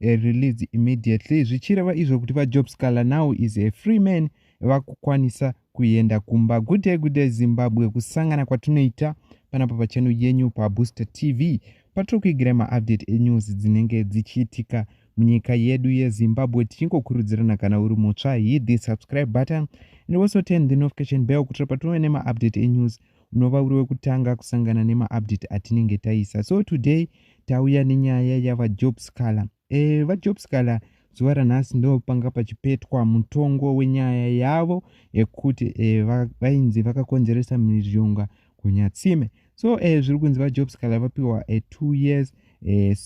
uh, released immediately zvichireva izvo kuti vajob scaler now is a free man vakukwanisa kuenda kumba good day good day zimbabwe kusangana kwatinoita panapa pachano yenyu pabooster tv patiri kuigira maupdate enews dzinenge dzichiitika munyika yedu yezimbabwe tichingokurudzirana kana uri mutsva hit the subscribe button and also turn the notification bell kutira patinove nemaupdate enews unova uri wekutanga kusangana nemaupdate atinenge taisa so today tauya nenyaya yavajob scaler e, eh, vajob scaler zuva ranhasi ndo panga pachipetwa mutongo wenyaya yavo yekuti e, vainzi vakakonzeresa miryonga kunyatsime so e, zviri kunzi vajob scaler vapiwa e, two years eh,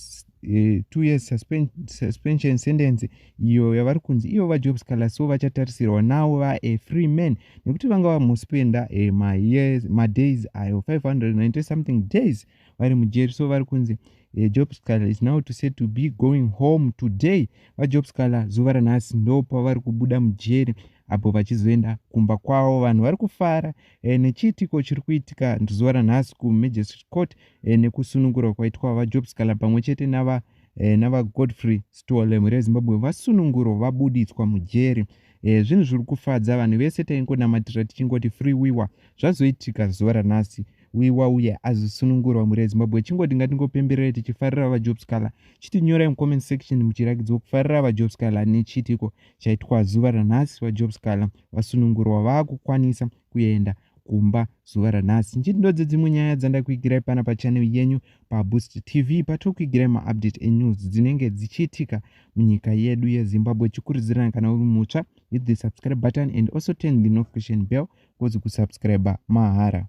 eh, two years suspen, suspension sentence iyo yavari kunzi iyo vajob scaler so vachatarisirwa nawo va a free man nekuti vanga vamuspenda eh, mayears madays ayo 590 something days vari mujeri so vari kunzi eh, job scaler is now to say to be going home today vajob scaler zuva ranhasi ndo pavari kubuda mujeri apo vachizoenda kumba kwavo vanhu vari kufara e, nechiitiko chiri kuitika zuva ranhasi kumagistrate court eh, nekusunungurwa kwaitwa vajob scala pamwe chete nava eh, navagodfrey stole mhuri yezimbabwe vasunungurwa vabuditswa mujeri eh, zvinhu zviri kufadza vanhu vese taingonamatira tichingoti free wiwa zvazoitika zuva ranhasi wiwa uye azosunungurwa mhuri yezimbabwe chingoti ngatingopemberere tichifarira vajob scala chitinyorai mucomment section muchirakidzwa kufarira vajob scala nechiitiko chaitwa zuva ranhasi vajob scala vasunungurwa vaakukwanisa kuenda kumba zuva ranhasi nchiti ndodzo dzimwe nyaya dzandakuigirai pana pachanel yenyu paboost tv patokuigirai maupdate enews dzinenge dzichiitika munyika yedu yezimbabwe chikurudzirana kana uri mutsva hit the subscribe button and also turn the notification bell kozi kusubscribe mahara